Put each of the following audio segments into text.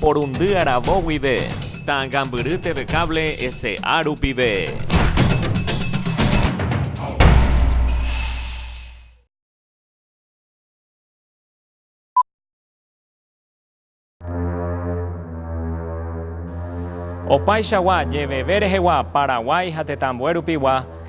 Porundy aravo guive. Ta'ãngambyry TV Cable S.A. rupive. Opáichagua jeveve rehegua Paraguái ha tetãmbuérupigua,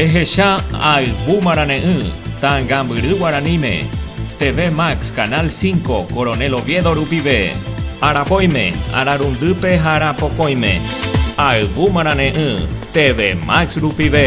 Ehecha albu marane'ỹ Tangambyry guaraníme, TV Max Canal 5 Coronel Oviedo rupive, Arapóime, Ararundýpe ha Arapokõime. Albu marane'ỹ TV Max rupive.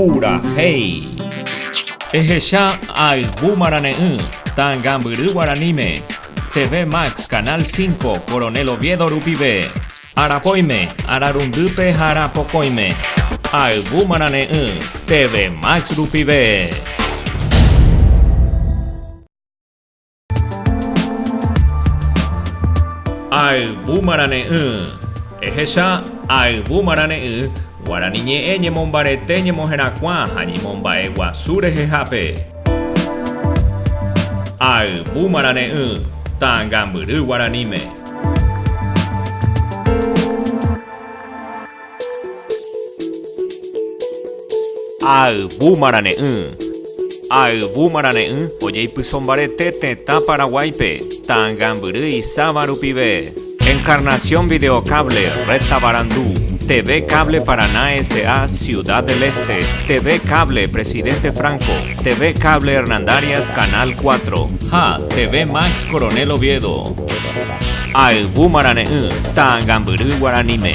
Purahéi. Ehecha Albu Marane'ỹ, Tangambyry Guaraníme, TV Max Canal 5, Coronel Oviedo rupive, Arapóime, Ararundýpe ha Arapokõime. Albu Marane'ỹ, TV Max rupive. Ayvumarane'ỹ, ehecha Ayvumarane'ỹ, Guarani ñe'ẽ ñemombarete ñemoherakuã ha ñemomba'e guasu rehehápe. Ayvumarane'ỹ, Ta'ãngambyry guaraníme. Ayvu marane'ỹ. Ayvu marane'ỹ ojeipyso mbarete tetã Paraguáipe, Tangambyry isáva rupive. Encarnación Videocable, Red Tavarandu, TV Cable Paraná S.A. Ciudad del Este, TV Cable Presidente Franco, TV Cable Hernandarias Canal 4, ha TV Max Coronel Oviedo. Ayvu marare'ỹ ta'ãngambyry guaraníme.